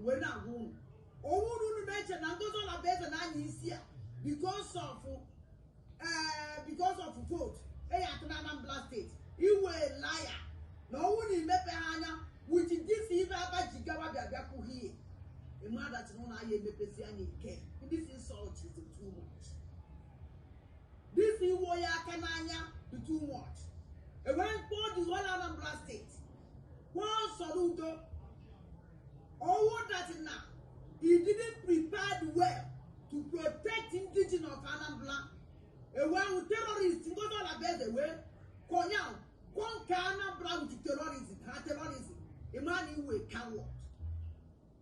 wee na-agwa unu ọ bụrụ unu na-eche na Ngozi Olabueze na-anya isi a because of eh, because of vote eyi atụ na Anambra steeti ị wụ liar na ọ wụrụ na i mepeha anya with this ife Abba Jigawa bịa bịa kwuo here ịmadachi na ụlọ ahịa emepezi anya ike this insult is too much this iwenye aka n'anya dị too much enwere mkpọ dị ọla Anambra steeti Paul Soludo, all that is now, you didn't prepare well to protect indigenous of Anambra. Ewe ahụ terrorist Ngozi Olabueze wee konya conquer Anambra with terrorism ha terrorism ị ma na ị wụ coward.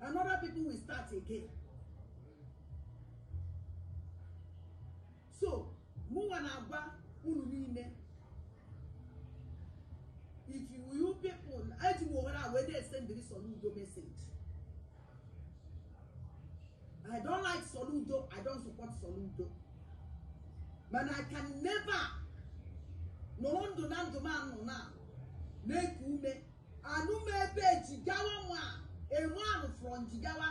another people will start again so mụnwa na-agwa unu niile if you people eji m ohere a wee na-esendịrị Soludo message I don't like Soludo I don't support Soludo but I can never nọrọ ndụ na ndụ m ana m eku ume anụ m ebe Jigawa nwa a man from Jigawa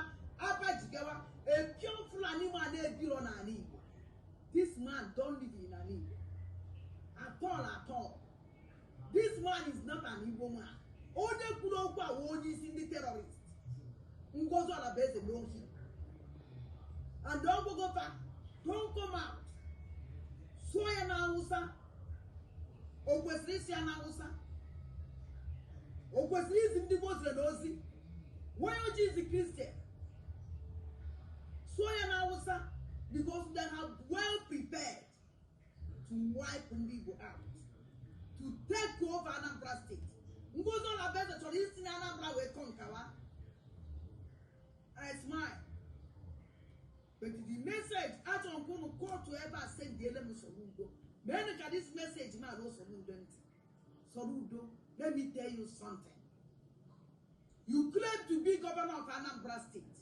Abba Jigawa a pure Fulani man ebiro n'ala Igbo this man don't live in ala Igbo at all at all This man is not an Igbo man. Onye kwuru okwu a onye isi ndị terrorist. Ngozi Olabueze know him. And Ogbogofa don come out. Sụọ ya na Hausa. O kwesịrị ịsụ ya na Hausa. O kwesịrị izi ndị Muslim ozi. Why o ji zi Christian? Sụọ ya na Hausa because they have well prepared. to wipe ndị Igbo out to take over Anambra steeti Ngozi Olabueze chọrọ isi na Anambra wee conquer I smile but the message achọrọ m ka unu kootu ebe a sendiele m Soludo meenụ ka this message m a ruo Soludo ntị Soludo let me tell you something you claim to be governor of Anambra steeti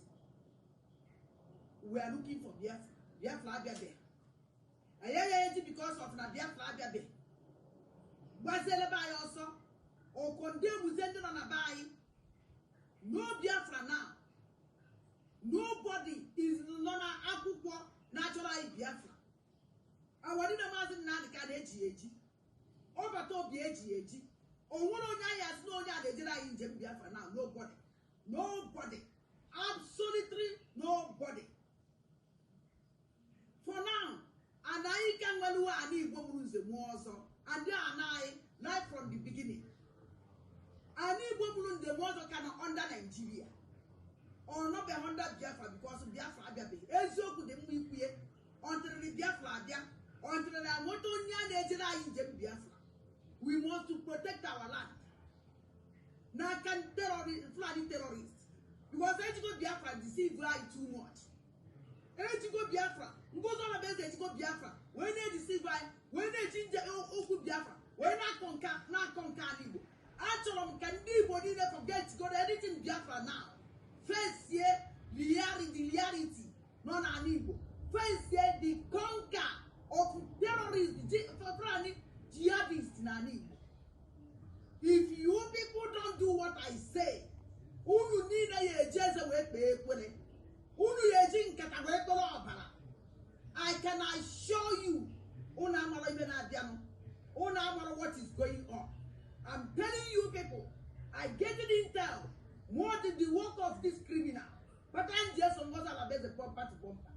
we are looking for biafra biafra abịabeghị anyị ayaghị eji because of na biafra abịabeghị gbaziele be anyị ọsọ or condemnụzie ndị nọ na be anyị no biafra now nobody is nọ na akwụkwọ na-achọrọ anyị biafra awa niile maazị Nnamdị Kanu eji eji ọbata obi eji ya eji o nwere onye anyị asị na onye a na-ejere anyị njem biafra now nobody Nobody. Absolutely nobody. For now, anyị ka nwere ani Igbo nwere nze nwee ọzọ. Ndị nna anyị, right from the beginning. ani Igbo nwere nze nwee ọzọ ka nọ under Nigeria. Ọ nọbe under Biafra because Biafra abịabe. Eziokwu dị mma ikwu ya. Until Biafra abịa. Until amụta onye a na-ejere anyị njem Biafra. We want to protect our land. n'aka Fulani terrorist because ejigo Biafra deceive anyị too much ejigo Biafra Ngozi Orabueze ejigo Biafra wee na-edeceive anyị wee na-eji njem okwu Biafra wee na-aconquer na-aconquer ala Igbo achọrọ m ka ndị Igbo niile forgetgodu anything Biafra now fesie reality nọ n'ala Igbo fesie the conquer of terrorist Fulani jihadist n'ala Igbo if you people don't do what I say unu niile ya eji eze wee kpee ekwere unu ya eji nkata wee kpere ọbara I can assure you unu amarọ ife na-abịanụ unu amarọ what is going on I'm telling you people I get it intel more than the work of this criminal maka anyị ji eso Ngozi Orabueze bumper to bumper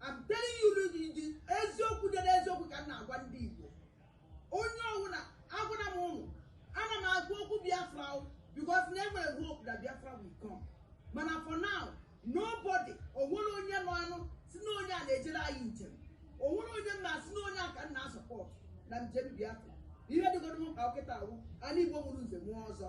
I'm telling you n'oge ndị eziokwu dị n'eziokwu ka m na-agwa ndị Igbo onye ọbụla agwara m unu ana m akọ okwu Biafra o, because m nwere hope that Biafra will come mana for now nobody onwerọ onye nọ anụ si na onye a na-ejere anyị njem onwerọ onye m ma-asị na onye a ka m na-asupport na njem Biafra ihe dịgoro m mkpa kịta a wụ ani Igbo nwere nze nwee ọzọ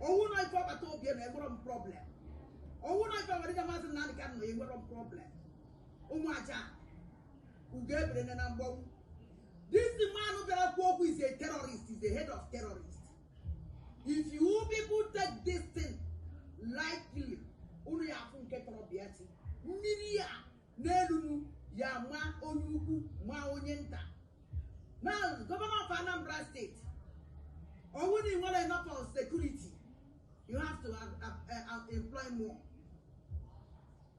ọ wụ na ife Peter Obi na enwerọ m problem ọ wụ na ife our leader maazị Nnamdi Kanu na enwerọ m problem ụmụ aja ugo ebere na mgbanwu this man bịara kwuo okwu is a terrorist is a head of terrorist if you people take this thing lightly unu ya afụ nke toro pịatị mmiri ya n'elu unu ya ma onye ukwu ma onye nta na gọvanọ of Anambra steeti ọ wụ na ị nwerọ enough of security you have to uh, uh, uh, employ more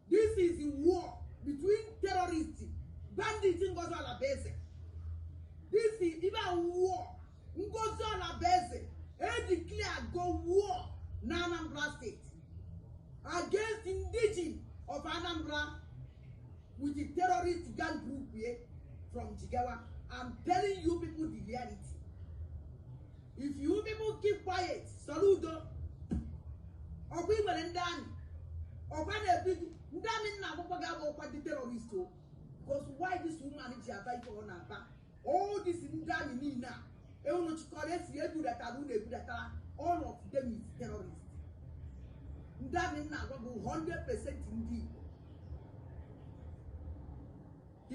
this is a war between terrorists bandits Ngozi Orabueze this is even war Ngozi Orabueze edeclarego war na Anambra steeti against indigen of Anambra with the terrorist gang group here from Jigawa. I'm telling you people the reality. If you people keep quiet, Soludo. Ọkwa ị nwere ndị army, ọkwa na-ebi gị, ndị army nna akwụkwọ ga-abụ ọkwa ndị terrorist o. Because why this woman ji aba ife ọ na-aba? all this ndị amị niile a unu chịkọrọ esi ebudatara unu ebudatara all of them is terrorist ndị amị m na-agwa bụ 100 percent ndị Igbo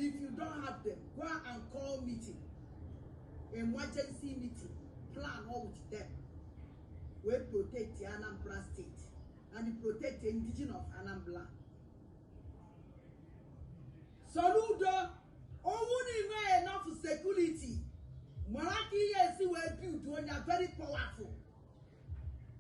if you don't have them go and call meeting emergency meeting plan all with them wee protect Anambra state and protect indigenous of Anambra Soludo ọ wụ na i nwee enough security mara ka ị ya-esi wee build onye very powerful